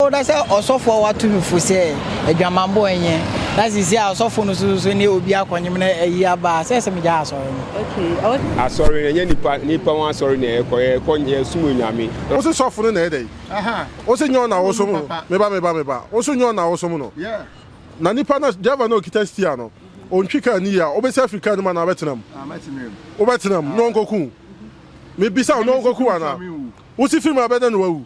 Oh, na sɛ ɔsɔfo a wato no fo sɛ adwamammɔ nyɛ, na sisi a ɔsɔfo no so so ne obi akɔnyem na ayi aba a, sɛ sɛ megyae asɔre no. Okay, oh. Asɔre no ɛnyɛ nipa nipa wɔn asɔre na ɛkɔ yɛ kɔ yɛ sum onyame. Wo se sɔfo no na ɛyɛ dɛn? Wo se nyɛ ɔna wosom no? Me ba me ba me ba, wo so nyɛ ɔna wosom no? Na nipa no driver no a okita steer no, ontwi car no yie a, wobesi afiri car no mu anaa wobɛtena mu? Wobɛtena mu na ɔnkɔku wo? Mebisa wo, na ɔnkɔku wo anaa? Wo se firi mu a ɛbɛyɛ dɛn na wawu?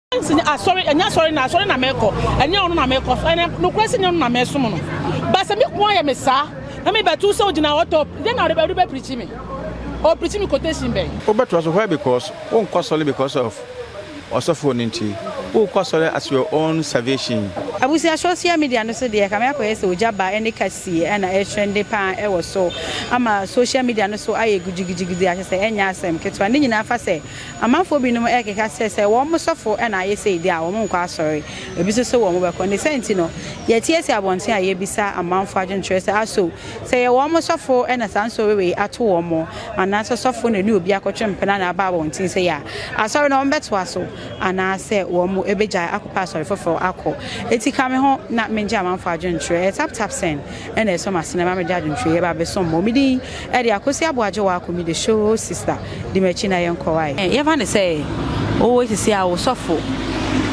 Nancy ne asɔre, ɛnyɛ asɔre na asɔre na mɛkɔ, ɛnyɛ ɔno na mɛkɔ, ɛnɛ nokorɛ sɛ nyɛ ɔno na mɛsom no. Ba sɛ me ko ayɛ me saa, na mebɛto sɛ ogyina hɔ tɔ, dɛn na ɔde bɛ preachi me? Ɔpreachi me quotation bɛn? Wobɛtoa so, why because wonkɔ asɔre because of ɔsɔfoɔ no nti, wokɔ asɔre as your own salvation. Abusua social media no so deɛ kame akɔyɛ sɛ ogya ba ne kasie na ɛretrende paa wɔ so ama social media no so ayɛ gugyigugyigudzi akyɛ sɛ ɛnyɛ asɛm ketewa ne nyinaa fa sɛ Amanfoɔ binom rekeka sɛ sɛ wɔn sɔfo na ayɛ sei deɛ a, wɔn nkɔ asɔre. Ebi nso se wɔn bɛkɔ. Ne saa nti no, yɛteɛ si abɔnten a yɛbisa amanfoɔ adwenkyerɛ sɛ, Aso sɛ ɛyɛ wɔn sɔfo na saa nsɔre wei ato wɔn, anaasɛ ɔsɔfo na ɔne obi akɔtwe mpena na aba abɔnten sei a, asɔre no wɔbɛtoa so anaasɛ wɔbɛgyae akɔpɛ asɔre foforɔ akɔ? Enti ka me ho na mengye amanfoɔ adwenkyerɛ. Ɛyɛ taptap sɛn na ɛsɔ m'asene ma mede adwenkyerɛ yi ba abɛsom mo? Me din Ɛde Akosi Aboagye Waako me the show sister di makyi na yɛn kɔ wae. Yɛfa no sɛ ɔwɔ sisi a ɔsɔfo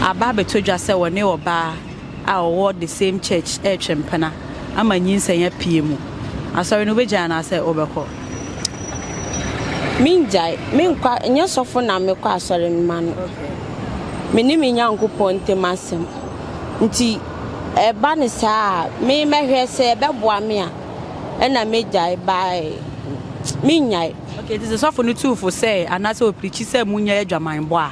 aba abɛtɔ dwa sɛ ɔne ɔbaa a ɔwɔ the same church retwe mpena ama nyinsɛn apue mu. Asɔre no wobɛgyae anaasɛ wobɛkɔ? Mengyae, menkɔ, nyɛ sɔfo na mekɔ asɔre no ma no. Me ne me Nyankopɔn ntam asɛm nti ɛba no saa a me mɛhwɛ sɛ ɛbɛboa me a. ɛna megyae bae menyae. Okay, nti sɛ sɔfo no tuu fo sɛ anaasɛ ɔpirikyi sɛ munya adwamanbɔ a,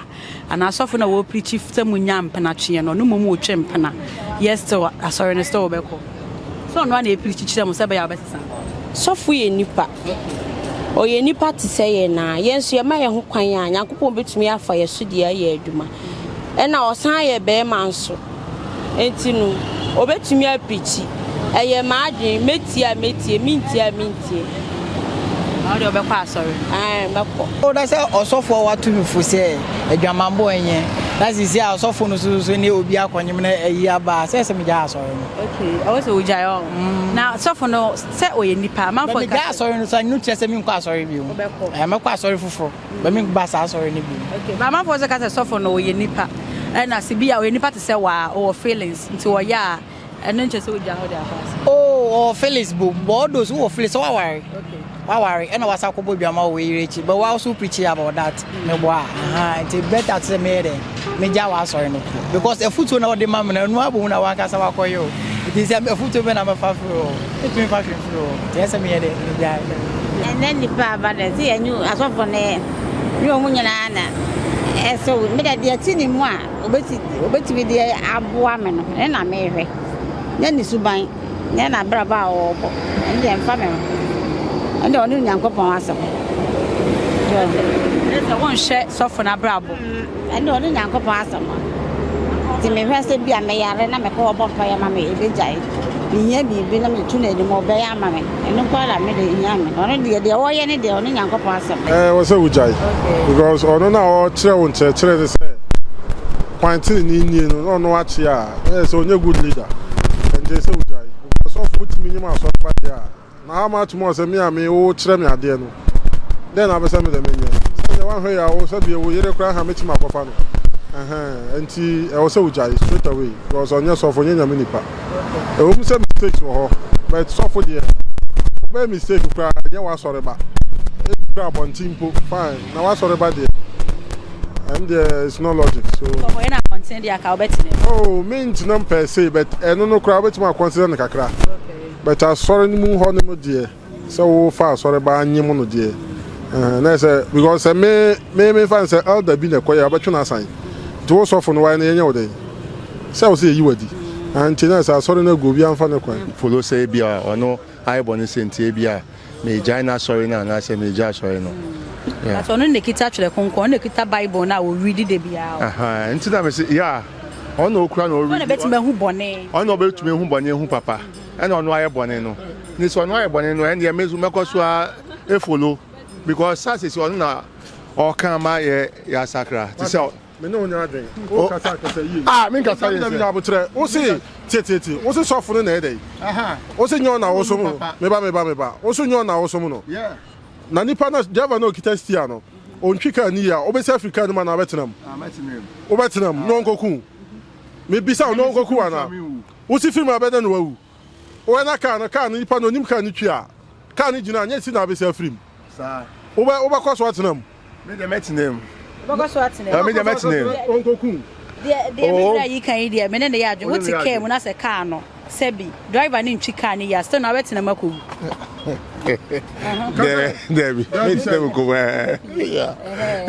anaa sɔfo na wɔpirikyi sɛ munya mpenatweɛ no, ɔno mmom wotwe mpena, yɛ still asɔre no still wobɛkɔ? Sɛ ɔno a na ɛpirikyi kyerɛ mo sɛ ɛbɛyɛ a wobɛsesa? Sɔfo yɛ nipa. Ɔyɛ nipa te sɛ yɛn na yɛn nso yɛma yɛn ho kwan a, Nyankopɔn bɛtumi afa yɛn so deɛ ayɛ adwuma. Ɛna ɔsan yɛ bɛrima nso. Enti no, obetumi apirikyi, Ɛyɛ m'adwene, metie a metie, mintie a mintie. Na wo deɛ wobɛkɔ asɔre? Ɛɛ, mɛkɔ. O, na sɛ ɔsɔfo a wɔato no fo sɛ adwamammɔ nyɛ, na seesei a ɔsɔfo no nso so ne obi akɔnyem na ayi aba a, sɛ ɛsɛ sɛ migyae asɔre no? Okay, ɛwɔ sɛ wogyae ɔ. Na sɔfo no, sɛ ɔyɛ nipa a, amanfoɔ nka sɛ. Migyae asɔre no, so ɛno kyerɛ sɛ merenkɔ asɔre bio? Wobɛkɔ. Ɛɛ, mɛkɔ asɔre foforo. Mami ba saa asɔre no bi. Okay, but amanfoɔ sɛ ka sɛ sɔfo no ɔyɛ nipa. Ɛna sɛ bi a ɔyɛ nipa te sɛ waa, ɔwɔ feelings, nti ɔyɛ a ɛno nkyɛ sɛ ogya hɔ de akɔ ase. Oh, ɔwɔ feelings bom, but all those wowɔ feelings sɛ waware. Okay. Waware, ɛna wasa kɔbɔ dwama wɔ w'eyere akyi, but wa also preaching about that. Mm. Meboa, aha, nti better te sɛ meyɛ dɛ, megya w'asɔre no. Because afutuo na ɔde ma me no, ɛno abom na wankasa wakɔyɛ o. Nti sɛ afutuo bɛ na mɛfa firi o, ɛtumi fa hwɛ. Ɛnɛ nipa aba dɛ sɛ yɛnye asɔfo no yɛ ne wɔn nyinaa na ɛsɛ wo meda deɛ ɛte ne mu a obɛtumi deɛ aboa me no ne na mehwɛ ne ne suban ne na abrabɔ a ɔwɔbɔ ɛne deɛ mfa me ho ɛne ɔne onyankopɔn asɛm sɛ wonhwɛ sɔfo no abrabɔ Ɛnde ɔne Nyankopɔn asɛm a nti mehwɛ sɛ bi a meyare na mekɔ ɔbɔ mpaeɛ ma me ɛbɛgyae, mehia biribi na meto no anim ɔbɛyɛ ama me, ɛno nko ara na me deɛ ɛhia me, ɔno deɛ deɛ ɔyɛ ne deɛ ɔne Nyankopɔn asɛm. Ɛɛ wɔ sɛ wogyae because ɔno na ɔkyerɛ wo nkyerɛkyerɛ ne sɛ kwan tenenee nie no na ɔno akye a na yɛ sɛ ɔnyɛ good leader, ɛnde ɛsɛ wogyae because ɔfo wotumi nyim asɔre ba deɛ a. Na ama ato mu a sɛ me a me wokyerɛ me adeɛ no, dɛn na wopɛ sɛ medɛ menyɛ? Sɛ neɛ woanhwɛ yie a wo sɛ bie wo yere koraa ha mɛtumi akɔfa no ɛhɛn ɛnti ɛwɔ sɛ wogyae straight away because ɔnyɛ sɔfo ɔnyɛ nyame nipa ɛwɔ mu sɛ mistakes wɔ hɔ but sɔfo deɛ wobɛyɛ mistake koraa ɛnyɛ woasɔre ba ebi koraa abɔnten mpo fine na woasɔre ba deɛ ɛm deɛ it's no logic so sɔfo yɛ na abɔnten deɛ aka wobɛtena mu oh mentenam per se but ɛno no koraa wobɛtumi akɔnsida no kakra But asɔre no mu hɔ no mu deɛ sɛ wo fa asɔre ba anyem no deɛ ɛhɛn na ɛsɛ because sɛ me me me fa sɛ elder bi na ɛkɔ yɛ abɛtwe no asan nti wo sɔfo no wayɛ no yɛnyɛ wo dɛn sɛ wo sɛ yɛyi wadi ɛhɛn nti na ɛsɛ asɔre no agu obi amfa ne kwan. follow sɛ ebia ɔno ayɛ bɔne sɛ nti ebia. meegyae n'asɔre no anaasɛ meegyae asɔre no. Yeah. But ɔno na ekita twerɛ kronkron, ɔno na ekita Bible no a ɔredi da biara. Ahaa, nti na mese, yeah, ɔno na okura na ɔredi. Ɔno na bɛtumi ahu bɔne. Ɔno na ɔbɛtumi ahu bɔne ahu papa. Ɛna ɔno ayɛ bɔne no. Ne sɛ ɔno ayɛ bɔne no, ɛndeɛ me nso mɛkɔ so a efolo because saa sisi ɔno na ɔka ma yɛ yɛasakra. Te sɛ Me ne wo nyɛ adwen. O kasa kasa yie. A me nkasa yie sɛ. Dabi dabi abotrɛ. O se tie tie tie. O se sɔfo no na ɛyɛ dɛn. O se nyɛ ɔna wosom no. Me ba me ba me ba. O se nyɛ ɔna wosom no. Na nipa no driver no okita steer no ontwi car no yie a obesi afiri car no mu anaa ɔbɛtena mu. Wobɛtena mu na ɔnkɔku wo. Me bisa wo na ɔnkɔku wo anaa. Wo se firi mu a ɛbɛyɛ dɛn na wawu. Wobɛ na car no car no nipa no onim car no twi a car no gyina a nyɛ si na abɛsi afiri mu saa wobɛ wobɛ kɔ so atena mu. Me deɛ mɛtena mu. Wobɛkɔ so atena mu. Me deɛ mɛtena mu. Ɔnkɔku. Deɛ deɛ me wura yi kan yi deɛ me ne ne yɛ adwene wote car mu na sɛ car no sɛbi driver no ntwi car no yɛ a still na wobɛtena mu akɔwu. Dɛbi mɛtena mu kɔwu ɛɛ.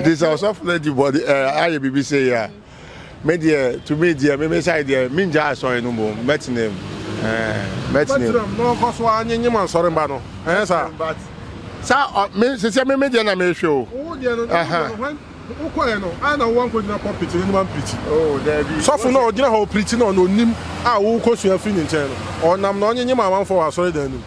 Nti sɛ ɔsɔfo no adi bɔde ɛɛ ayɛ biribi sɛ yɛ a. Me deɛ to me deɛ me me side deɛ me ngya asɔre no mbom mɛtena mu ɛɛ mɛtena mu. na ɔnkɔ so ara nye nye ma nsɔre mba no ɛnyɛ eh, saa. but sa ɔ me sisi me me deɛ na mehwɛ o. wo deɛ no ɛhɛn. Uh-huh. when wokɔɛ no ayɛ na wowa nkɔ gyina pulpit n'anim ampirikyi. oh daabi. sɔfo na ɔgyina hɔ ɔpirikyi na ɔna onim a wokɔ sua firi ne nkyɛn no ɔnam na ɔnye nye ma amanfoɔ wɔ asɔre dan no mu.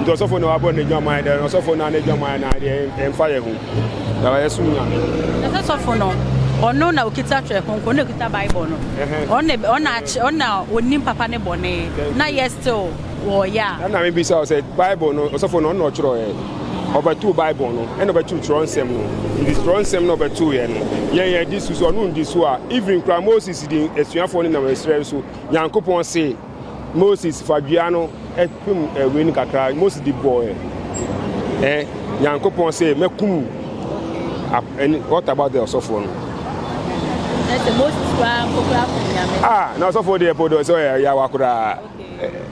Nti ɔsɔfo na wabɔ n'adwaman dɛ, na ɔsɔfo na n'adwaman na deɛ ɛmfa yɛ ho. Na wɔyɛ som nyame. Na sɛ sɔfo no, ɔno na okita twerɛ kronkron, na okita Bible no. Ɔno na ɔno akyerɛ, ɔno na onim papa ne bɔne. Na yɛ still wɔyɛ a. Ɛna me bisa wo sɛ Bible no ɔsɔfo no ɔno na ɔtwerɛ yɛ. Ɔbɛtoo Bible no, ɛna ɔbɛtoo twerɛ nsɛm no. Nti twerɛ nsɛm na ɔbɛtoo yɛ no, yɛn yɛdi so. Sɛ ɔno ndi so a, even koraa Moses di asuafoɔ no nam ɛserɛ so, Nyankopɔn see. Moses fa dua no pem ɛwei no kakra, Moses de bɔɔ ɛ Nyankopɔn sɛ mɛkum what about the ɔsɔfoɔ no? Ah, na ɔsɔfoɔ deɛ po dɔ sɛ ɔyɛ yawa koraa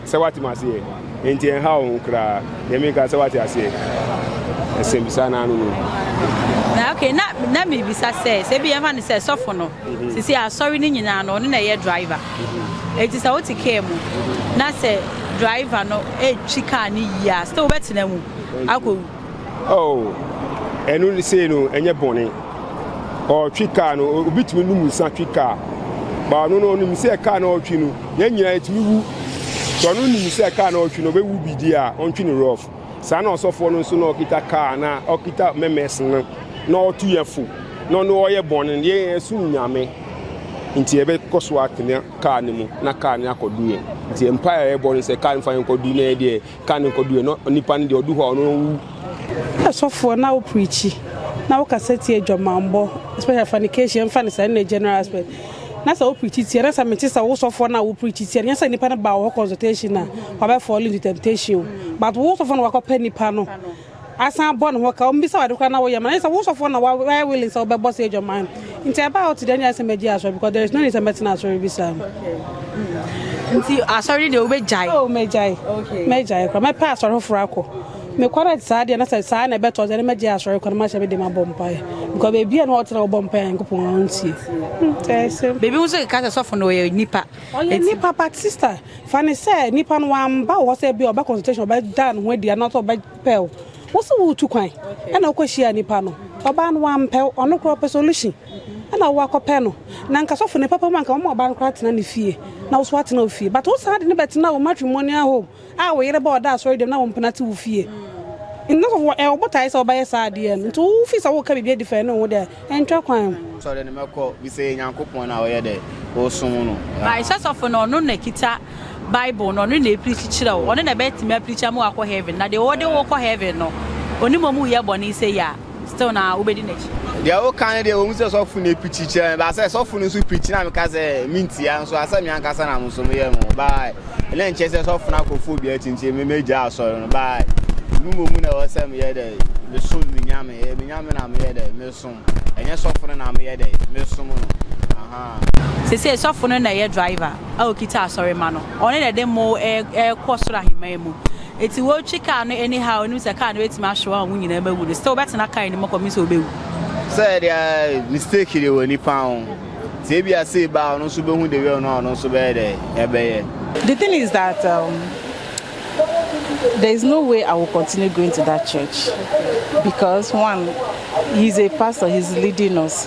sɛ wate ma aseɛ nti ɛnha wo ho koraa deɛ meka sɛ wate aseɛ ɛsɛmbisa no ano no na okay na na mebisa sɛ sɛ bi yɛmfa no sɛ sɔfo no Sesei asɔre no nyinaa no ɔno na ɛyɛ driver. Enti sɛ wote kaa mu na sɛ driver no retwi kaa no yie a, still wobɛtena mu akɔwu. Oh, ɛno sei no ɛnyɛ bɔne. Ɔretwi kaa no, obi tumi num nsa twi kaa. Ba ɔno no ɔnim sɛ kaa no ɔretwi no, yɛn nyinaa yɛtumi wu. Sɛ ɔno nim sɛ kaa no ɔretwi no ɔbɛwu bi di a, ɔntwi no rough. Saa na ɔsɔfoɔ no nso na ɔkita kaa na ɔkita mɛmɛs no na ɔtu yɛ fo na ɔne ɔyɛ bɔne no yɛn yɛn som nyame nti yɛbɛkɔ so atena kaa no mu na kaa no akɔdu yɛn nti mpa a yɛbɔ no sɛ kaa no fa yɛn kɔdu na yɛ deɛ kaa no kɔdu yɛn na nipa no deɛ ɔdu hɔ a ɔno wu. Ɛsɔfoɔ na ɔpirikyi na ɔkasa tie adwamammɔ especially fornication mfa no saa ne general aspect. Na sɛ wo preachi tia na sɛ mete sɛ wo sɔfoɔ no a wo preachi tia no nyɛ sɛ nipa no baa wo hɔ consultation a wabɛ fall into temptation o but wo sɔfoɔ na wakɔ pɛ nipa no asan bɔ ne ho ka ɔmbisa wo ade koraa na wo yɛ ma no nyɛ sɛ wo sɔfoɔ na wayɛ willing sɛ wobɛ bɔ saa adwaman no nti ɛbaa ɔte deɛ nyɛ sɛ mɛgye asɔre because there is no need sɛ mɛtena asɔre bi saa no. Nti asɔre no deɛ wobɛ gyae. Oh mɛgyae mɛgyae koraa mɛpɛ asɔre foforɔ akɔ. Nokware te saa deɛ na sɛ saa na ɛbɛtɔ sɛ ne mɛgye asɔre kɔ na mahyɛ me de ma bɔ mpaeɛ because baabi a na ɔte na ɔbɔ mpaeɛ a Nyankopɔn a ɔntie hmm tɛɛ sɛm. Baabi nso keka sɛ sɔfo no ɔyɛ nipa. Ɔyɛ nipa but sister fa ne sɛ nipa no wamba wo hɔ sɛ bi a ɔbɛ consultation ɔbɛda ne ho adi anaasɛ ɔbɛpɛ wo wo se woretu kwan ɛna wokɔ hyia nipa no ɔbaa no wampɛ wo ɔno koraa ɔpɛ solution ɛna wo akɔpɛ no na nka sɔfo ne papa mu anka wɔma ɔbaa no koraa tena ne fie na wo so atena wo fie but wosan de ne bɛtena wo matrimonial home a wo yere ba ɔda asɔre dɛm na wo mpena te wo fie nna sɔfo wɔ ɛwɔ botae sɛ ɔbɛyɛ saa adeɛ no nti wo fi sɛ wo ka biribi adi fa ɛne wo deɛ ɛntwa kwan. Asɔre no mɛkɔ bi sɛ yɛ Nyankopɔn na ɔyɛ dɛ ɔsom no yeah. By sɛ sɔfo no ɔno na kita bible no ɔno na ɛpirikyi kyerɛ wo ɔno na ɛbɛtumi apirikyi ama wakɔ heaven na deɛ ɔde wo kɔ heaven no ɔnim ɔmu yɛ bɔne sɛ yi a. Still na wobɛdi n'akyi. Deɛ woka no deɛ wɔn sɛ sɔfo na epikyi kyerɛ me baasa sɔfo no nso pikyi na meka sɛ mentia nso asɛ me ankasa na mo nso meyɛ no baa ɛna nkyɛ sɛ sɔfo no akɔfo obi akyinkyɛ me megya asɔre no baa mu mmom na ɛwɔ sɛ meyɛ dɛ mesom me nyame ɛyɛ me nyame na meyɛ dɛ mesom ɛnyɛ sɔfo no na meyɛ dɛ mesom no aha sese sɔfo no na ɛyɛ driver a okita asɔre ma no ɔne na ɛde mo ɛkɔ soro ahemman mu Eti wotwi kaa no anyhow a onim sɛ kaa no betumi ahwe wɔn a wɔn nyinaa bɛwu no, still ɔbɛtena kaa no mu kɔpem sɛ obewu. Sɛ ɛde a mistake de wɔ nipa ho nti ebia sei ba a ɔno nso behu the well no a ɔno nso bɛyɛ dɛ ɛbɛyɛ. The thing is that um, there is no way I will continue going to that church because one, he's a pastor, he's leading us.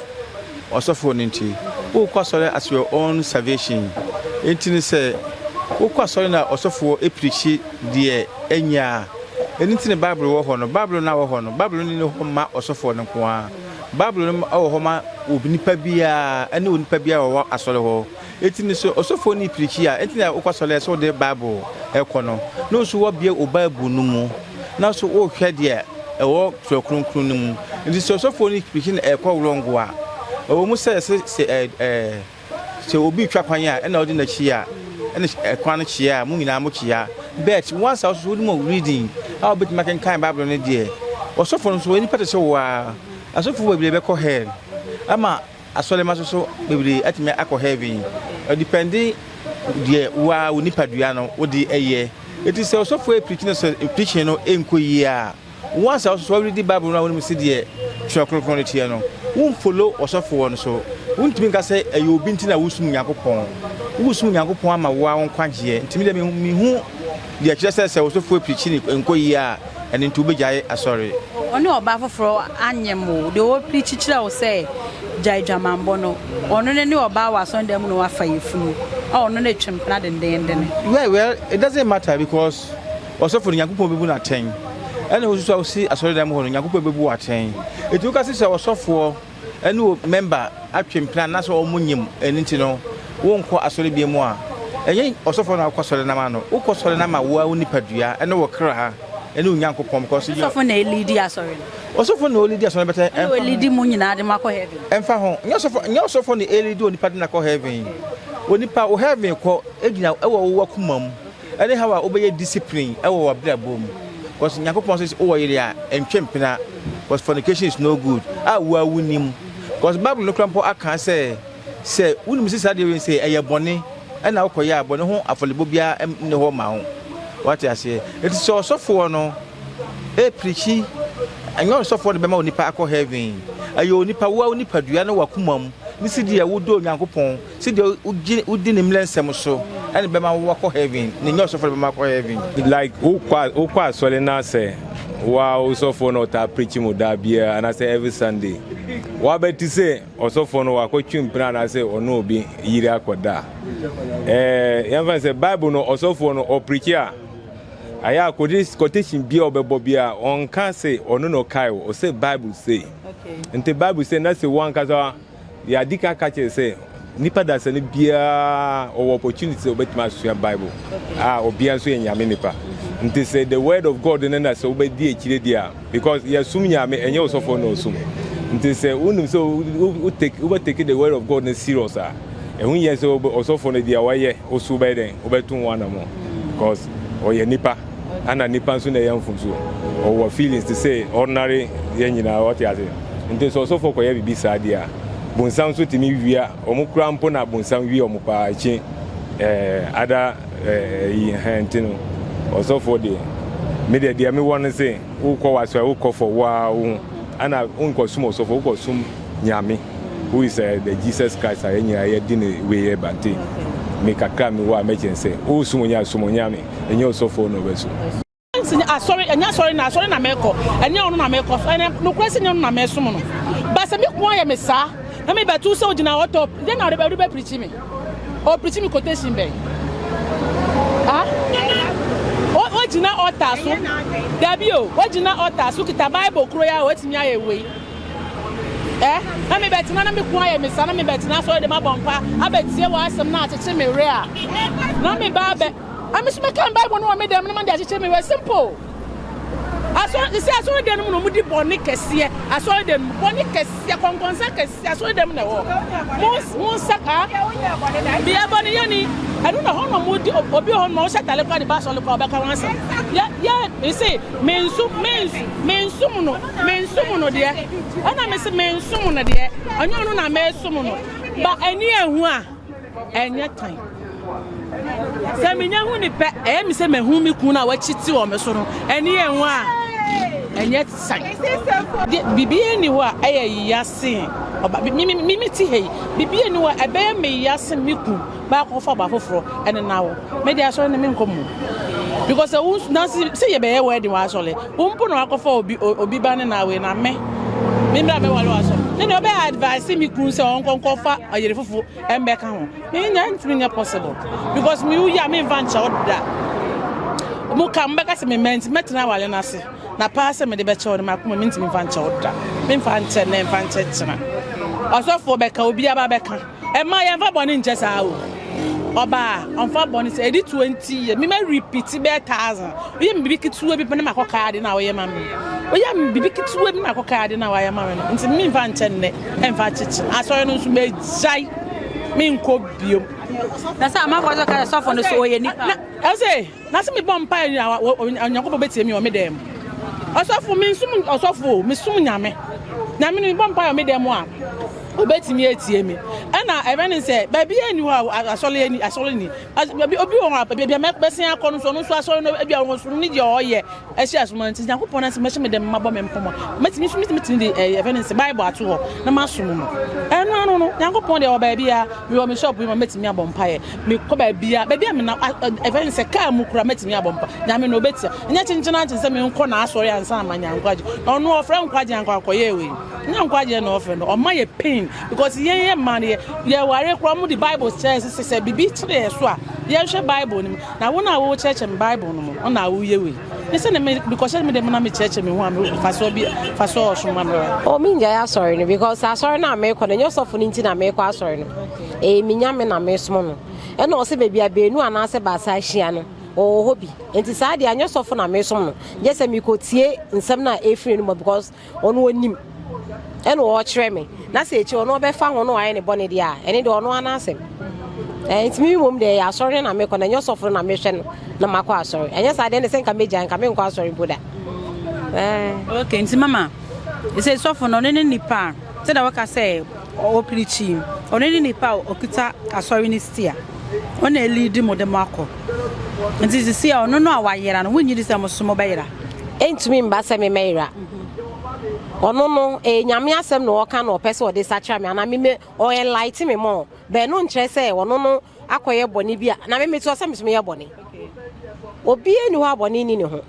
ɔsɔfoɔ no nti wokɔ asɔre at your own salvation nti no sɛ wokɔ asɔre na ɔsɔfoɔ ɛpirikyi deɛ ɛnyɛ a ɛno nti ne bible wɔ hɔ no bible no a wɔ hɔ no bible no ne hɔ mma ɔsɔfoɔ no nko a bible no wɔ hɔ ma onipa biara ɛne onipa biara wɔwɔ asɔre hɔ Enti no sɛ ɔsɔfoɔ no pirikyi a enti na wokɔ asɔre a sɛ wode Bible kɔ no na wo nso woabue wo Bible no mu na so worehwɛ deɛ ɛwɔ twerɛ kronkron no mu. Enti sɛ ɔsɔfoɔ no pirikyi na ɛkɔ wrong a, ɛwɔ mu sɛ sɛ sɛ ɛ ɛ sɛ obi retwa kwan a ɛna wode n'akyi a ɛna ɛkwan no kyea a mo nyinaa mo kyea bet once a wo nso wode mu reading a wobɛtumi akenkan Bible no deɛ ɔsɔfoɔ no nso ɔyɛ nipa te sɛ wo ara asɔfoɔ bebree bɛkɔ hell ama Asɔremma so so bebree atumi akɔ heaven. Ɔdepɛnde deɛ wo ara wo nipadua no wode yɛ. Eti sɛ ɔsɔfo ɛreprikyi no sɛ preaching no nkɔ yie a, once a wososo woredi bible no a wonim sedeɛ twerɛ kronkron no teɛ no, wo nfollow ɔsɔfoɔ no so. Wontumi nka sɛ ɛyɛ obi nti na woresom Nyankopɔn. Woresom Nyankopɔn ama wo ara wo nkwagyeɛ. Nti medeɛ mehu. deɛ ɛkyerɛ sɛ sɛ wo sofo apirikyi ne nkɔ yie a, ɛno nti wobɛgyae asɔre. Ɔne ɔbaa foforɔ anyem wo. Deɛ ɔrepirikyi kyerɛ wo sɛ gya adwamammɔ no, ɔno no ne ɔbaa wɔ asɔredan mu na wafa yafunu a ɔno no atwa mpena dendeenden. Well, well, it doesn't matter because ɔsɔfo no, Nyankopɔn bɛbu no atɛn. Ɛna wo nso so a wosi asɔredan mu hɔ no, Nyankopɔn bɛbu wo atɛn. Enti woka se sɛ ɔsɔfoɔ. ɛne wo mɛmba atwe mpena na sɛ ɔmo nyim ɛno nti no wo nkɔ asɔre bia mu a, ɛnyɛ ɔsɔfoɔ na wokɔ sɔre nam a no, wokɔ sɔre nam a woaa wo nipa dua ɛne wo kraa ɛne wo Nyankopɔn because yɛ. Ɔsɔfo na ɛliidi asɔre no. Ɔsɔfo na ɔliidi asɔre no bɛtɛ. Ɛna ɔliidi mo nyinaa de mo akɔ heaven. Ɛnfa ho, nyɛ ɔsɔfo nyɛ ɔsɔfo na ɛliidi onipa de no akɔ heaven, onipa wo heaven kɔ ɛgyina ɛwɔ wo wakoma mu. Ɛne how a wobɛyɛ discipline wɔ w'abrabɔ mu cause Nyankopɔn says wowɔ yere a ntwe mpena cause fornication is no good a wo a wonim cause Bible no kora mpo aka sɛ sɛ wonim sɛ saa deɛ wei sɛ ɛyɛ bɔne ɛna wokɔyɛ a bɔne ho afɔlebɔ biara nne hɔ ma wo wate aseɛ ɛti sɛ ɔsɔfoɔ no ɛpirikyi ɛnyɛ ɔsɔfoɔ no bɛma onipa akɔ heaven ɛyɛ onipa wo a wo nipadua no wakoma mu ne sɛ deɛ wodɔ Onyankopɔn Sɛdeɛ wogye wodi ne mmrɛ nsɛm so na ɛbɛma wo akɔ heaven na ɛnyɛ ɔsɔfoɔ na ɛbɛma akɔ heaven. Like wokɔ wokɔ asɔre na sɛ woa wo sɔfoɔ na ɔtaa preachi mo da biara anaasɛ every Sunday woaba ti sɛ ɔsɔfoɔ no wakɔ twe mpena anaasɛ ɔne obi yiri akɔ da a eh yɛmfa ne sɛ bible no ɔsɔfoɔ no ɔpreachi a ayɛ a quotation biara ɔbɛbɔ biara ɔnka se ɔno na ɔkae o ɔsɛ bible sei nti bible sei na sɛ wo ankasa Deɛ adi kan ka kyerɛ sɛ nipa dasani biara ɔwɔ opportunity sɛ ɔbɛtumi asua bible a obiara nso yɛ nyame nipa nti sɛ the word of god no na sɛ wobɛdi akyire deɛ a because yɛsom nyame ɛnyɛ ɔsɔfoɔ na ɔsom nti sɛ wonim sɛ wobɛtake the word of god no serious a ɛho yɛ sɛ ɔsɔfoɔ no deɛ wayɛ woso wobɛyɛ dɛn wobɛto ho anamɔ because ɔyɛ nipa ana nipa nso na ɛyɛ mfomso ɔwɔ feelings te sɛ ordinary yɛn nyinaa ɔte ase nti sɛ ɔsɔfo kɔyɛ biribi saa deɛ a bonsam nso tumi wia wɔn kura mpo na bonsam wia wɔn paa ekyi ɛɛ eh, ada ɛɛ eh, yi hɛn nti no ɔsɔfo deɛ me deɛ deɛ mewɔ no se wokɔ wasɔre wokɔ fɔ waa wo ho ana wonkɔ sum ɔsɔfo wokɔ sum nyame who is uh, the jesus christ a yɛn nyinaa yɛde ne wei yɛ bante me kakra mewɔ a mɛkyɛn sɛ wosum onyame sum onyame ɛnyɛ ɔsɔfoɔ na ɔbɛso. Ɛnti ne asɔre, ɛnyɛ asɔre na asɔre na mɛkɔ, ɛnyɛ ɔno na mɛkɔ, ɛnɛ nokorɛ sɛ ɛnyɛ ɔno na mɛsom no. Ba sɛ meko ayɛ me saa, na mebɛto sɛ ogyina hɔ tɔ, dɛn na ɔde bɛ preachi me? Ɔpreachi me quotation bɛn? Ah? O, ogyina altar so, dabi o, ogyina altar so, okita Bible koro yi a, watumi ayɛ wei. ɛ na mebɛtena na meko ayɛ me sa na mebɛtena sɔre de mabɔ mpa abɛtie wɔ asɛm na akyekye me werɛ a na meba abɛ ame so mɛka bible no wɔ me dɛm na made akyekye me werɛ simple asɔre te sɛ asɔre dɛm no mu na ɔmodi bɔne kɛseɛ asɔre dɛm mu bɔne kɛseɛ kɔnkɔnsa kɛseɛ asɔre dɛm na ɛwɔ mo nsa ka bia bɔne yɛni ɛno na hɔ na ɔmodi obi hɔ ma wohyɛ tale kora de ba asɔre kora ɔbɛka ho asɛm yɛ yɛ ɛse mensu mensu mensu mu no Mensom no deɛ, ɛna mese mensom no deɛ, ɛnyɛ ɔno na mesom no. Ba ani ehu a, ɛnyɛ tan. Sɛ menya hu ne pɛ, ɛyɛ me sɛ mahu me kunu a wakyiti wɔ me so no. Ani ehu a, ɛnyɛ tan. Biribi ani hɔ a ɛyɛ ya sen ɔba. Mimi ti hɛ yi, biribi ani hɔ a ɛbɛyɛ me ya sen me kunu. baako kɔfa ɔbaa foforɔ ɛne na wo me de asɔre no menkɔ mu because sɛ wo na sɛ yɛbɛyɛ wedding wɔ asɔre wo mpo na wakɔfa obi obi ba ne na wei na me me mmra mɛwale wɔ asɔre ne deɛ ɔbɛyɛ advice mi kunu sɛ ɔnkɔnkɔfa ɔyere fofo ɛmbɛka ho menya ntumi nyɛ possible because me woyi a memfa nkyɛ wo da mo ka mbɛka sɛ me mɛnti mɛtena awale no ase na paa sɛ mede bɛkyɛ wo no makoma mentumi mfa nkyɛ wo da memfa nkyɛ ne mfa nkyɛ kyena ɔsɔfoɔ bɛka obi aba bɛka Ɛmma yɛmfa bɔne nkyɛ saa o. Ɔbaa, ɔmfa bɔne sɛ ɛdi 20 years. Me ma repeat bɛyɛ thousand. Woyɛ me biribi ketewa bi pɛ na makɔ kaa ade no a woyɛ ma me. Woyɛ me biribi ketewa bi na makɔ kaa ade no a woayɛ ma me no. Nti memfa nkyɛ nnɛ, ɛmfa akyekye. Asɔre no nso magyae, menkɔ biom. Na sɛ amanfoɔ nso ka sɛ sɔfo no so ɔyɛ nipa. Ɛsɛ. Na se mebɔ mpae a Onyankopɔn betie me wɔ me dan mu. Ɔsɔfo, mensum ɔsɔfo o, mesum Nyame. Nyame no mebɔ mpae wɔ me dan mu a, obetumi atie me. Ɛna ɛbɛn ne sɛ, baabiara nni hɔ a asɔre ani, asɔre ni. Obi wɔ hɔ a, baabi a mɛsen akɔ no nso, ɔno nso asɔre no, ebia ɔno ne deɛ ɔyɛ. Ahyia so ma nti Nyankopɔn n'asɛm bɛhyɛ me dɛm mabɔ me nkɔmmɔ. Mɛtumi nso mɛtumi de ɛɛ yɛfɛ ne nse Bible ato hɔ na masom no. Ɛno ano no Nyankopɔn deɛ wɔ baabiara mewɔ me shop yi ma mɛtumi abɔ mpaeɛ. Mekɔ baabiara baabiara me na ɛfɛ ne sɛ kaa mu kura mɛtumi abɔ mpa. Nyame na ɔbɛtia. Nyɛ kyenkyen ankye sɛ menkɔ n'asɔre ansa na manya nkwagye. Ɔno ɔfrɛ nkwagye anka ɔkɔyɛɛ wei. Nyɛ nkwagyeɛ na ɔfrɛ no. Ɔma yɛ pain because yɛn yɛ mmaa no yɛ yɛware koraa wɔn de Bible kyerɛ sɛ sɛ bibi kyerɛ yɛ so a yɛnhwɛ Bible no mu. Na wo na wo kyerɛkyerɛ me Bible no mu, ɔna wo yɛ wei. Ne sɛ ne me bikɔhyɛ me dɛm na me kyerɛkyerɛ me ho a me fasoɔ bi fasoɔ ɔsom ma mmerɛ. O me ngyae asɔre no because asɔre no a me kɔ no nyɛ ɔsɔfo no nti na me kɔ asɔre no. Ɛyɛ me nyame na me som no. Ɛna ɔsɛ baabi a beenu anaasɛ baasa ahyia no ɔwɔ hɔ bi. Nti saa deɛ nyɛ ɔsɔfo na me som no. Gyɛ sɛ me kɔ tie nsɛm no a ɛfiri no mu because Ɔno onim, ɛna ɔrekyerɛ me, na sɛ akyiri ɔno ɔbɛfa ho na wayɛ ne bɔne deɛ a, ɛne deɛ ɔno ara n'asɛm. Ɛɛ, nti me mmom deɛ ɛyɛ asɔre no na mekɔ, na ɛnyɛ ɔsɔfo no na mehwɛ no na makɔ asɔre. Ɛnyɛ saa deɛ, ɛnde sɛ nka megyae, nka menkɔ asɔre mpo da. Ɛɛ. Okay, nti mama, ɛsɛ sɔfo no, ɔno ne nipa a, sɛdeɛ woka sɛ Ɔpirikyi, ɔno ne nipa a ɔkita asɔre no stia. Ɔna ɛliidi mo de mo akɔ. Nti sisi a ɔno no a wayera no, wonyi di sɛ mo so mo bɛyera? Ɛntumi mba sɛ me mɛyera. Ɔno no, ɛyɛ Nyame asɛm na ɔka na ɔpɛ sɛ ɔde sakyera me anaa me me ɔ enlighten me more, but ɛno nkyerɛ sɛ ɔno no akɔyɛ bɔne bi a na me meteɔ sɛ metumi yɛ bɔne obiara ni hɔ a bɔne ni ne ho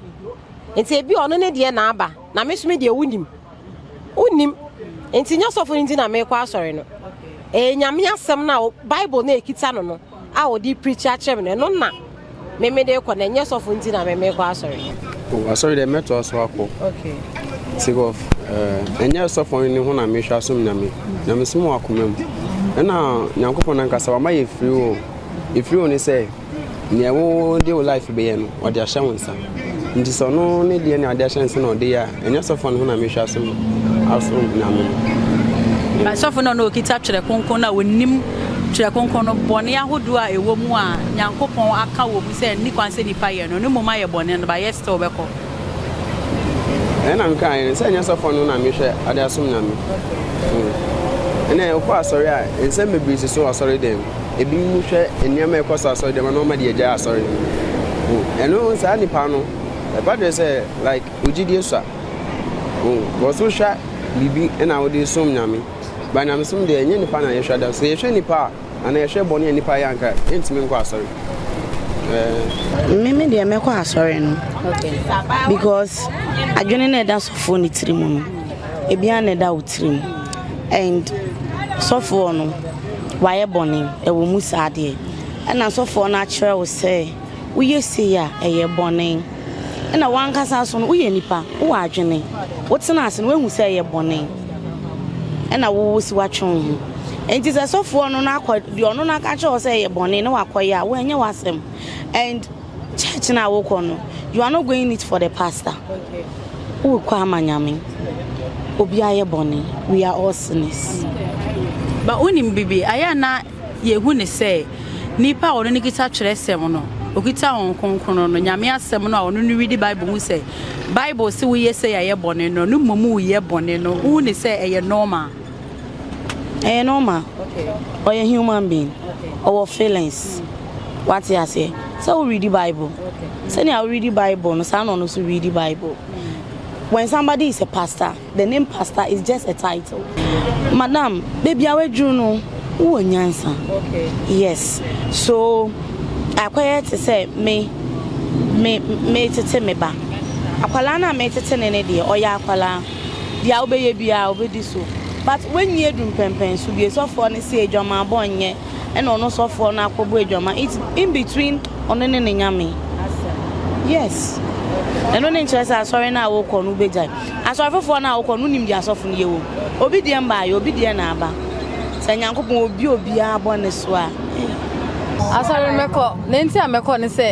nti ebi ɔno ne deɛ na aba na me so me deɛ wonim wonim nti nyɛ sɔfo no nti na mekɔ asɔre no ɛyɛ nyame asɛm no a bible na ɛkita no no a ɔde pirikyi akyerɛ me no ɛno na Me me de kɔ na ɛnyɛ sɔfo nti na me me kɔ asɔre. Oh, asɔre dɛ mɛtoa so akɔ. Okay. Sake of eh, ɛnyɛ sɔfo no ne ho na mehwɛ asom nyame. Nyame som wɔ akoma mu. Ɛna Nyankopɔn nankasa wama yɛ free will. Efiri wo ne sɛ nea ɛwo de wo life bɛyɛ no ɔde ahyɛ wo nsa. Nti sɛ ɔno ne deɛ ne ade ahyɛ nsa na ɔde yɛ a Ɛnyɛ sɔfoɔ no ho na mehwɛ ase asom Nyame no. By sɔfo no a na okita twerɛ kronkron no a onim twerɛ kronkron no bɔne ahodoɔ a ɛwɔ mu a Nyankopɔn aka wɔ mu sɛ ɛnni kwan sɛ nipa yɛ no, no mmom ayɛ bɔne no, but yet still ɔbɛkɔ. Ɛnɛ na mekaeɛ no sɛ ɛnyɛ sɔfoɔ no ho na mehwɛ ade asom Nyame. Hmm. Ɛnɛ wokɔ asɔre a nsɛm bebree si so asɔre dɛm. Ebinom hwɛ nneɛma a ɛkɔ so asɔre dɛm na wɔma de agyae asɔre. Hmm. Ɛno saa nipa no ɛba deɛ sɛ like Wo gyidie sua o. Because wo hwa biribi na wo de som Nyame. But Nyamesom deɛ ɛnyɛ nipa na yɛhwa da. Sɛ yɛhwɛ nipa a anaa yɛhwɛ bɔne a nipa yɛ anka yɛntumi nkɔ asɔre. Ɛɛ. Me me deɛ mɛkɔ asɔre no. Okay. Because adwene na ɛda sɔfoɔ ne tiri mu no. Ebia na ɛda wo tiri mu. And sɔfoɔ no wayɛ bɔne ɛwɔ mu saa deɛ. Ɛna sɔfoɔ no akyerɛ wo sɛ. Woyɛ sei a, ɛyɛ bɔne. Ɛna w'ankasa nso no, woyɛ nipa, wowɔ adwene. Wotena ase no, woahu sɛ ɛyɛ bɔne. Ɛna wo wo si woatwe wo ho. Enti sɛ sɔfoɔ no no akɔ, deɛ ɔno no aka kyerɛ wo sɛ ɛyɛ bɔne na wakɔyɛ a, wo ɛnyɛ w'asɛm. And church no a wokɔ no, you are not going it for the pastor. Wokɔ ama Nyame. Obiara yɛ bɔne. We are all sinners. But wonim biribi, ayɛ a na Yɛhu no sɛ nnipa a ɔno ne kita twerɛsɛm no, ɔkita Honhom Kronkron no, Nyame asɛm no a ɔno no redi Bible hu sɛ Bible se woyɛ sei a ɛyɛ bɔne no, no mmom woyɛ bɔne no, wohu no sɛ ɛyɛ normal. Ɛyɛ normal. Ɔyɛ human being. Ɔwɔ feelings. Wate aseɛ. Sɛ wo readi Bible. Sɛnea wo readi Bible no, saa na ɔno nso readi Bible. When somebody is a pastor, The name pastor is just a title. Madam, baby a w'adwuru no, wowɔ nyansa. Yes. So, akɔyɛ te sɛ me, me, me tete me ba. Akwalaa no a me tete ne ne deɛ, ɔyɛ akwalaa. Deɛ wobɛyɛ biara, obɛdi so. But w'anyi aduru mpɛmpɛn so bie. Sɔfoɔ no se adwaman bɔ nyɛ, ɛna ɔno sɔfoɔ no akɔ bɔ adwaman. It's in between ɔno ne ne Nyame. Yes. Ɛno ne nkyerɛ sɛ asɔre no a wokɔ no wobɛgyae. Asɔre foforɔ no a wokɔ no wonim deɛ asɔfo no yɛ wɔ mu. Obi deɛ mbaayɛ, obi deɛ na aba. Sɛ Nyankopɔn obi obiara bɔne so a eh. Asɔre mɛkɔ, na nti a mɛkɔ ne sɛ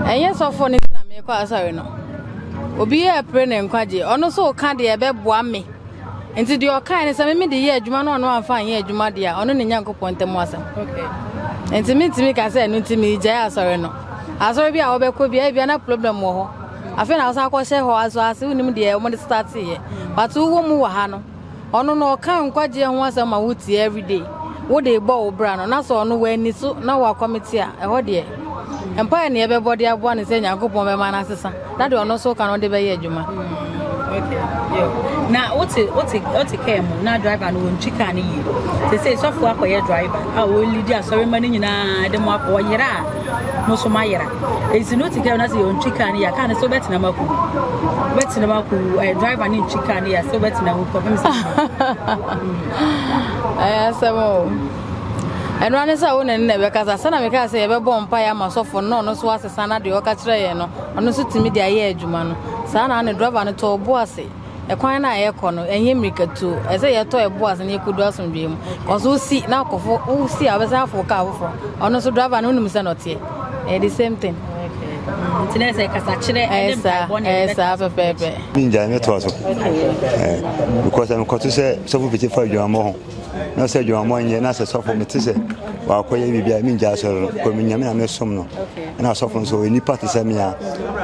ɛnyɛ sɔfo ne nti na mekɔ asɔre no. Obi yɛ pere ne nkwagye, ɔno so ka deɛ ɛbɛboa me. Nti deɛ ɔkae ne sɛ meme de yɛ adwuma no ɔno amfa anyɛ adwuma deɛ a ɔno ne Nyankopɔn ntam asɛm. Nti mentumi ka sɛ ɛno nti megyae asɔre no. Asɔre bi a wɔbɛkɔ bi a ebia na problem wɔ hɔ. Afei na ɔsan kɔhyɛ hɔ asoase wonim deɛ wɔde starteeɛ but wowɔ mu wɔ ha no ɔno no ɔka nkwagyeɛ ho asɛm ma wotie everyday wode bɔ wo bra no na sɛ ɔno w'ani so na wɔ akɔmete a ɛhɔ deɛ mpaeɛ ne ɛbɛbɔ de aboa no sɛ nyankopɔn bɛma no asesa na deɛ ɔno nso ka no de bɛyɛ adwuma na wote wote wote kaa mu na driver no wɔntwi kaa no yie te sɛ sɔfo akɔyɛ driver a wɔlidi asɔre ma no nyinaa de mo akɔ ɔyera a mo so mo ayera Nti no ti kɛ na sɛ yɛ ntwi kaa ne ya kaa ne so bɛtena mu akɔ bɛtena mu akɔ ɛɛ eh, driver ne ntwi kaa ne ya so bɛtena mu kɔ fɛn sɛ. Ɛyɛ asɛm o. Ɛno ane sɛ wo ne ne na ɛbɛkasa sɛna mekaa sɛ yɛbɛbɔ mpa yɛ ama sɔfo no ɔno so asesa na deɛ ɔka kyerɛ yɛn no ɔno nso tumi de ayɛ adwuma no saa na ne driver no tɔɔ bo ase Ɛkwan no a yɛkɔ no, ɛnyɛ mmirikatuo. Ɛsɛ sɛ yɛtɔ ɛbo ase na yɛkɔdu asomdwoeɛ mu. Kɔso wosi na akɔfo wosi a wobɛsan afo kaa foforɔ. Ɔno nso driver no wonim sɛ na ɔteɛ. Ɛyɛ the same thing. Nti na ɛsɛ kasakyerɛ ɛne mpaebɔ na ɛbɛta. Ɛsaa pɛpɛɛpɛ. Ninja ne toa so. Eh, because I'm kɔto sɛ sɔfo pete fa adwumammɔ ho. Na sɛ adwumammɔ nyɛ na sɛ sɔfo mete sɛ wakɔyɛ biribi a mingya asɔre no. Kɔ menyame na mesom no. Na sɔfo nso onipa te sɛ me a.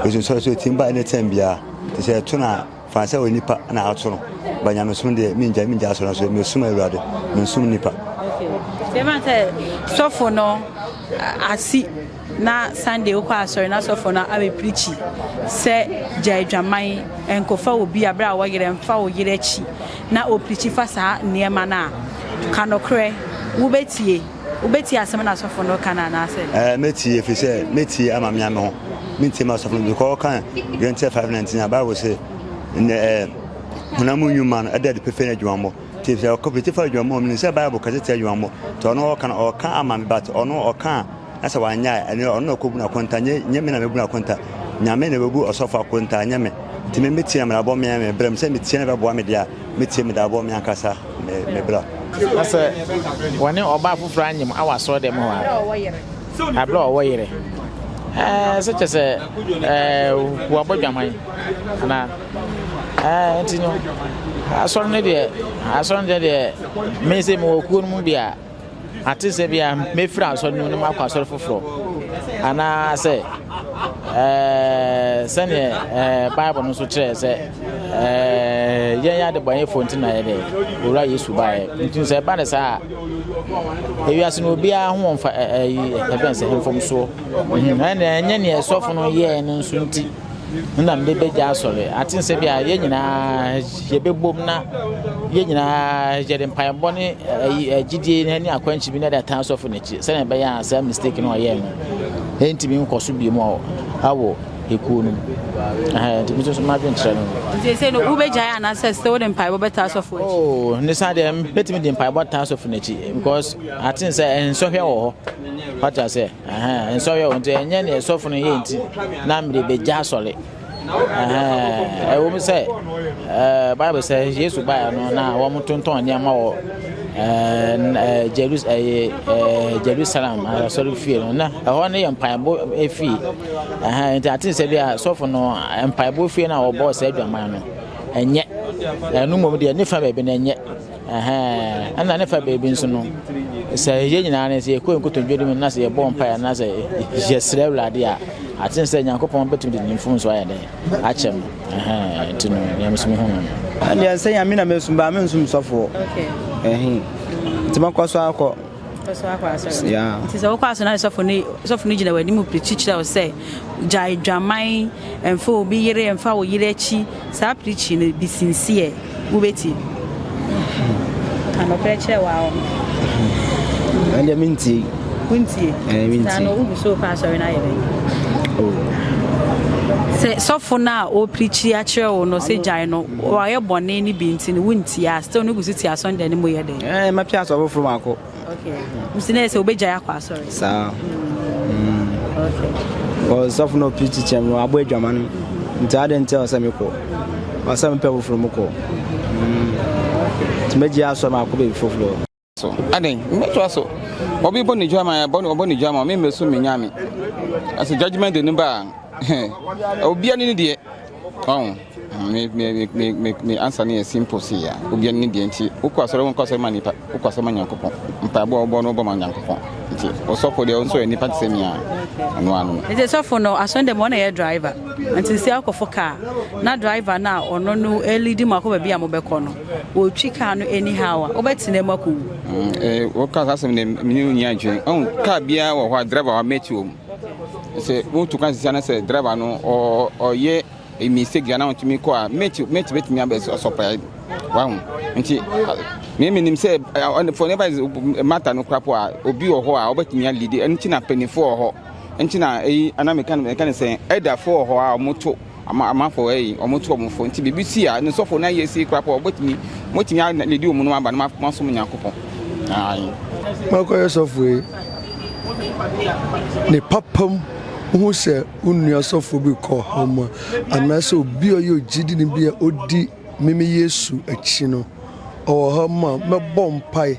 Osunsɔre so etim ba anytime biara. Te sɛ ɛto no a, fa no sɛ onipa na ato no, ba nyamesom deɛ, mengyae, mengyae asɔre no so, mesom Awurade, mensom nnipa. Okay. Deɛ sɛ sɔfo no asi na Sunday wokɔ asɔre na sɔfo no abɛpirikyi sɛ gya adwaman nkɔfa wɔ bi aberɛ a wɔyerɛ mfa wo yerɛ akyi na ɔpirikyi fa saa nneɛma no a ka nokorɛ wobɛtie Wobɛtie asɛm na asɔfo no reka no anaasɛ? Ɛɛ, mɛtie, ɛfiri sɛ mɛtie ama mea me ho. Mentie m'asɔfo no, because ɔka Galantia 5:19 a, Bible se, Nnɛ, ɛɛ, honam mu nnwuma no, ɛda adi pefee ne adwumammɔ. Nti sɛ ɔka fiti fa adwumammɔ a, menim sɛ Bible ka sɛ tia adwumammɔ. Nti ɔno ɔka no, ɔka ama me, but ɔno ɔka a, na sɛ wanyɛ a, ɛno ɔno na ɔkɔbu no akonta, nyɛ, nyɛ me na mɛbu no akonta. Nyame na ɔbɛbu ɔsɔfo akonta, nyɛ me. Nti me, mɛtie na mabɔ me, me berɛ mu, sɛ metie na ɛbɛboa me deɛ a. Metie me daabɔ me ankasa me me bra. Na sɛ wɔne ɔbaa foforɔ anyem awɔ asɔre dɛm hɔ a, aberɛ a ɔwɔ yere, ɛɛ sɛ kyɛ sɛ ɛɛ wɔabɔ dwaman anaa ɛɛ nti no asɔre no deɛ asɔre no deɛ deɛ mese mewɔ kuo no mu bi a. Ate sɛ bia mɛfiri asɔre no mu na makɔ asɔre foforɔ anaasɛ eh, sɛdeɛ eh, bible no nso kyerɛɛ sɛ eh, yɛn adebɔnyɛfoɔ nti na yɛde owura yesu baeɛ nti sɛ ɛba ne saa a ewiase no obiara ho mfa ɛbɛn sɛ mfomsoɔ ɛnɛ ɛnyɛ neɛ ɛsɔfo no yɛɛ no nso nti na mebɛgya asɔre. Ate nsɛ bi a yɛn nyinaa yɛbɛbom na yɛn nyinaa yɛde mpaebɔ ne gyidie ne akwankyerɛ bi na ɛde atan asɔfo no akyi sɛnea ɛbɛyɛ a saa mistake no ɔyɛɛ no ɛntumi nkɔ so bio mu awɔ ekuo no mu. Ntumi nso madwenkyerɛ no. Nti sɛ no wobɛgyae anaasɛ sɛ wode mpaebɔ bɛta asɔfo akyi? Oh, ne saa deɛ mɛtumi de mpaebɔ ta asɔfo no akyi because ate sɛ nsɔhwɛ wɔ hɔ. Wate aseɛ? Ɛhɛn, nsɔhwɛ wɔ nti ɛnyɛ nea sɔfo no yɛ nti na mede begya asɔre. Ɛhɛn, ɛwɔ mu sɛ ɛɛ Bible sɛ Yesu baeɛ no na wɔn tontɔn nneɛma wɔ ɛɛ Jerus ɛyɛ ɛɛ Jerusalem asɔre fie no na ɛhɔ no yɛ mpaebɔ efie. Ɛhɛn, nti ate sɛ bi a sɔfo no mpaebɔ fie na wɔbɔ sɛ adwaman no ɛnyɛ ɛno mmom deɛ ne fa baabi no ɛnyɛ. Ɛhɛn, ɛna ne fa baabi nso no, sɛ yɛn nyinaa no, sɛ yɛkɔ yɛn nkotodwe no mu na sɛ yɛbɔ mpaeɛ anaasɛ yɛsrɛ Awurade a, aten sɛ Nyankopɔn bɛtumi de ne mfomsoɔ ayɛ dɛn? Akyɛ no. Ɛhɛn, nti no, deɛ nso mehu no no. Ɛdeɛ sɛ Nyame na mɛsom baa mensom sɔfoɔ. Ɛhɛn, nti mɛkɔ so akɔ. so akɔ asɔre no yeah. nti sɛ wokɔ asɔre no sɔfo no sɔfo no gyina w'anim pirikyi kyerɛ wo sɛ gyae dwaman ɛmfa obi yere ɛmfa wo yere akyi saa pirikyi no bi sinsiɛ wobɛti anɔkorɛ kyerɛ wɔ awɔ ɛndeɛ mentie wontie saa no wogu so wokɔ asɔre no ayɛ bɛn sɛ sɔfo no a ɔpirikyi akyerɛ wo no sɛ gyae no wayɛ bɔne no bi nti no wontie a still no gu so ti asɔndɛ no mu yɛ dɛ Eh, mɛpɛ asɔre foforɔ baako. Okay. Nti na yɛ sɛ wobɛgyae akɔ asɔre. Saa. Mm. Okay. Ɔsɔfo na ɔpiri kyikyɛm no abɔ adwama no. Nti adɛn nti ɔsɛ mekɔ? Ɔsɛ mepɛ foforɔ mu kɔ. Mm. Nti mɛgye asɔre ma akɔ baabi foforɔ. So, adɛn? Mɛtoa so. Obi bɔ ne dwama, ɔbɔ ne dwama, me mmɛso me nyame. Ɛsɛ judgment de no ba a, obiara ne ne deɛ. Wahu? Me, me, me, me, me, me ansa no yɛ simple sei a, obiara ne deɛ nti, wokɔ asɔre, wonkɔ asɔre ma nipa, wokɔ asɔre ma Nyankopɔn. Mpaebɔ a wobɔ no, wobɔ ma Nyankopɔn. Nti, wo sɔfo deɛ, wo nso yɛ nipa te sɛ me a, ɛno ara no. Nti sɔfo no, asɔre dɛm hɔ na ɛyɛ driver. Nti sɛ wokɔfo car, na driver no a ɔno no leadi mo akɔ baabi a mobɛkɔ no, ɔtwi car no anyhow a, wobɛtena mu akɔwu. Mm, eh, woka saa asɛm deɛ, mene wo nyi adwene. Wahu? Car biara wɔ hɔ a, driver wɔ hɔ a, mate wɔ mu. sɛ wotu kwan sisi ana sɛ driver no ɔyɛ mistake bi ana ɔntumi kɔ a mate mate betumi abɛ sɔpɛ wahu nti me menim sɛ ɔne fɔ neba mata no kora po a obi wɔ hɔ a ɔbɛtumi alidi ɛno nti na mpanyinfoɔ wɔ hɔ nti na eyi ana meka no meka no sɛ ɛdafoɔ wɔ hɔ a wɔto ama amanfo ɛyi wɔn to wɔn fo nti biribi si a ne sɔfo na yɛ si kora pɔ ɔbɛtumi mɔtumi aledi wɔn nom aba na masom nyankopɔn ayi. makɔyɛ sɔfo yi ne papam wohu sɛ wo nua sɔfo bi kɔ ha mu a anaasɛ obi a ɔyɛ ogyidi ne bi a ɔdi meme yesu akyi no ɔwɔ ha mu a mɛbɔ mpae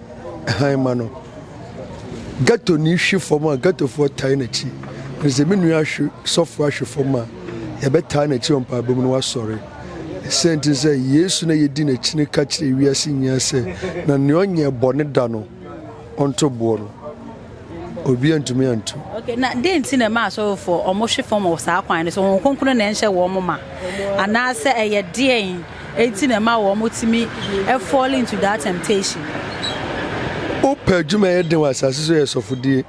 hann ma no. Gɛtoni hwe fam a, gɛtofoɔ tae n'akyi. Ɛfiri sɛ me nua hwe sɔfoɔ ahwe fam a, yɛbɛtaa n'akyi wɔ mpaebɔ mu na wasɔre. Ɛsɛ nti sɛ Yesu na yɛdi n'akyi no ka kyerɛ wiase nyinaa sɛ, na nea ɔnyɛɛ bɔne da no, ɔnto boɔ no. obi antumi antu. Okay, na dɛn nti na ɛma asɔrefoɔ wɔhwe fam wɔ saa kwan no so? Wɔn kronkron na ɛnhyɛ wɔn ma anaasɛ ɛyɛ deɛn nti na ɛma wɔtumi fall into that temptation? Wopɛ adwuma yɛ den wɔ asase so yɛ sɔfodie.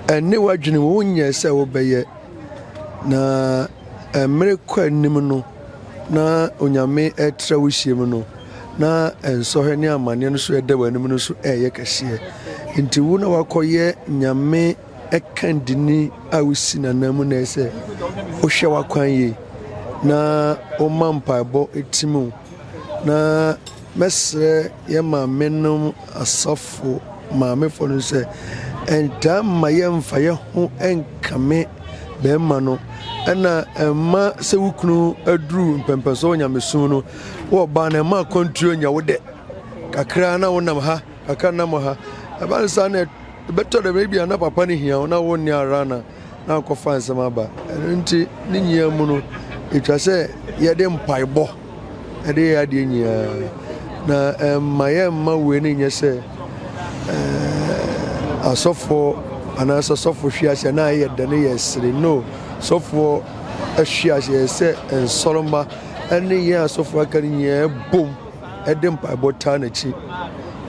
Ɛne w'adwene mu wonyɛ sɛ wobɛyɛ na mmere kɔ anim no na onyame ɛtrɛ wo hyiam no na nsɔhwɛ ne amanneɛ no so ɛda w'anim no so ɛyɛ kɛseɛ. Nti wo na wakɔyɛ nyame ɛkandini a wosi nanan mu na ɛsɛ wohwɛ w'akwan yie na woma mpaebɔ ɛtim o na mɛsrɛ yɛ maame nom asɔfo maamefoɔ no sɛ ɛntaa mma yɛmfa yɛ ho ɛnkame bɛrima no ɛna ɛma sɛ wo kunu aduru mpɛmpɛsoɔ wɔ nyamesom no Wɔ ba na ɛma akwantuo nya wo dɛ kakra na wonam ha kakra nam ha ɛba no saa na ɛbɛtɔ dɛm ebi a na papa no hia wo na wonni ara na na akɔfa nsɛm aba ɛno nti ne nyinaa mu no ɛtwa sɛ yɛde mpaebɔ ɛde yɛ adeɛ nyinaa na ɛmma yɛmma wei no nyɛ sɛ asɔfoɔ anaasɛ sɔfo hwe aseɛ na ayɛ dɛ no yɛ sere no sɔfoɔ ahwe aseɛ sɛ nsɔrɔmba ne yɛn asɔfo aka no nyinaa bom de mpaebɔ taa n'akyi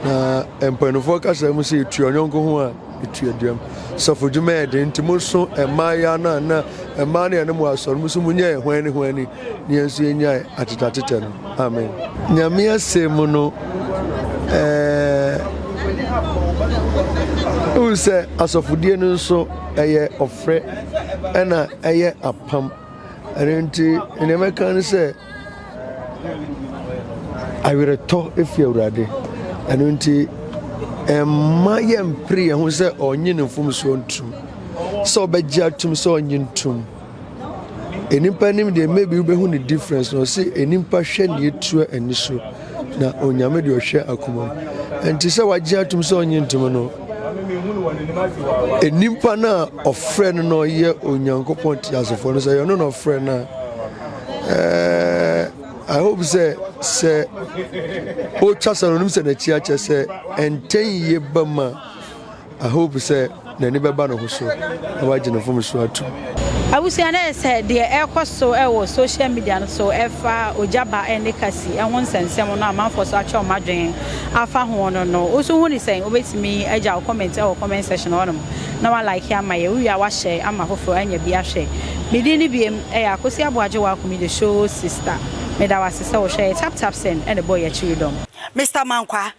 na mpanyinfoɔ kasa mu sɛ etua ɔnyɔnko ho a etua duam sɔfo dwuma yɛ den nti mo nso mmaayewa no a na mmaa no yɛ ne mo asɔre mo so mo nyɛ hwan ne hwan ni ne yɛn nso yɛnyae atetatetɛ no amen nyame asɛm mu no ɛɛ wohu sɛ asɔfodie no nso ɛyɛ ɔfrɛ ɛna ɛyɛ apam ɛno nti nea mɛka ne sɛ awerɛtɔ efi awurade ɛno nti ɛmma yɛmpere yɛn ho sɛ ɔnye ne mfomsoɔ ntom sɛ ɔbɛgye atom sɛ ɔnye ntom nnipa nim deɛ maybe wobɛhu ne difference na ɔse nnipa hwɛ ne ɛtua ani so na onyame deɛ ɔhwɛ akoma mu ɛnti sɛ wagye atom sɛ ɔnye ntom no Nnipa no a ɔfrɛ no na ɔyɛ Onyankopɔn teasefoɔ no sɛ yɛno na ɔfrɛ no a I hope sɛ sɛ ɔtwa sɛ no ɔnim sɛ n'akyi akyɛ sɛ ɛntɛn yie ba mu a I hope sɛ n'ani bɛba ne ho so na wagye ne mfomsoɔ atom. Abusua no ɛsɛ deɛ ɛrekɔ so wɔ social media no so ɛfa ogya ba ne kasi ho nsɛnsɛm no a amanfoɔ so atwɛ wɔn adwene afa ho no no wo nso ho ne sɛn? Wobɛtumi agya wo comment wɔ comment section hɔ nom na wa like ama yɛn wowie a wa share ama foforɔ anya bi ahwɛ me din no biem ɛyɛ Akosi Aboagye Wakum the show sister meda wo ase sɛ wo hwɛ yɛ tap tap send ɛna ɛbɔ yɛn akyiridɔm. Mister Mankwaa,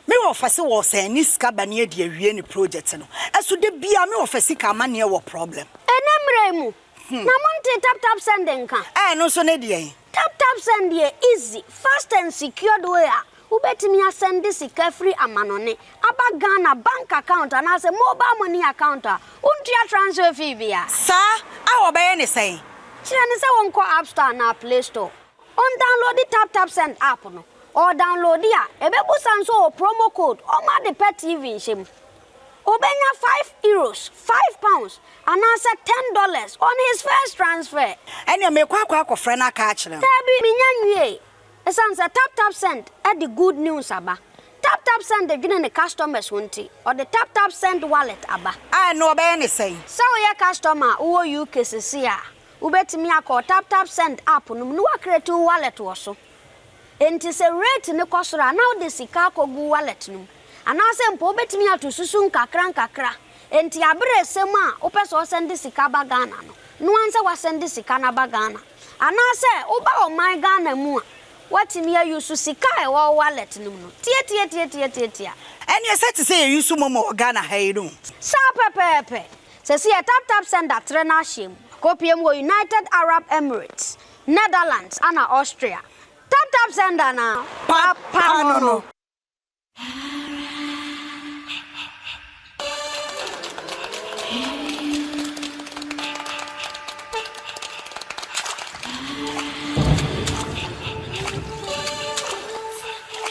Me wɔ fɛ se wɔ sɛn ne sika bɛne adi awie ne project no so da biaa me wɔ fɛ sika amaneɛ wɔ problem. Ɛnɛ mmerɛ yi mu na mo ntee tap tap send nka. Ɛno nso ne deɛn? Tap tap send yɛ easy, fast and secured way a wobɛtumi asɛnde sika firi amanɔne aba Ghana bank account anaasɛ mobile money account a wontua transfer fee biara. Saa a wɔbɛyɛ ne sɛn? Kyerɛ no sɛ wɔnkɔ App Store anaa Play Store. Ɔndawnlode Tap Tap Send app no. Ɔɔdawnlode a, ebebusa no sɛ ɔwɔ promo code ɔma ade pɛ TV nhyɛ mu. Obenya five Euros, five pounds, anaasɛ ten dollars on his first transfer. Ɛnneɛ merekɔ akɔ akɔfrɛ no aka akyerɛ no. Daabi, mennya nwiee. Esiane sɛ Tap Tap Send de good news aba, Tap Tap Send dwene ne customers ho nti, ɔde Tap Tap Send Wallet aba. A ɛnneɛ ɔbɛyɛ no sɛn? Sɛ woyɛ customer a wowɔ UK seesei a, Wobɛtumi akɔ wo TapTapSend app no mu na woacreate wo wallet wɔ so. Enti sɛ rate no kɔ soro a, na wode sika akɔgu wo wallet no mu. Anaasɛ mpo wobɛtumi ato susu nkakrankakra. Enti aberɛ ɛsɛ mu a wopɛ sɛ wosɛnde sika ba Ghana no, no ara sɛ woasɛnde sika no aba Ghana. Anaasɛ woba ɔman Ghana mu a, woatumi a use sika a ɛwɔ wo wallet no mu no. Tiatiatiatiatiatia. Ɛneɛ sɛ te sɛ yɛ use momo wɔ Ghana ha yi no. Saa pɛpɛɛpɛ. Sesei TapTap Sender trɛ n'ahyeɛ mu kɔpue mu wɔ United Arab Emirates, Netherlands ana Austria. TapTap Sender na papa no no.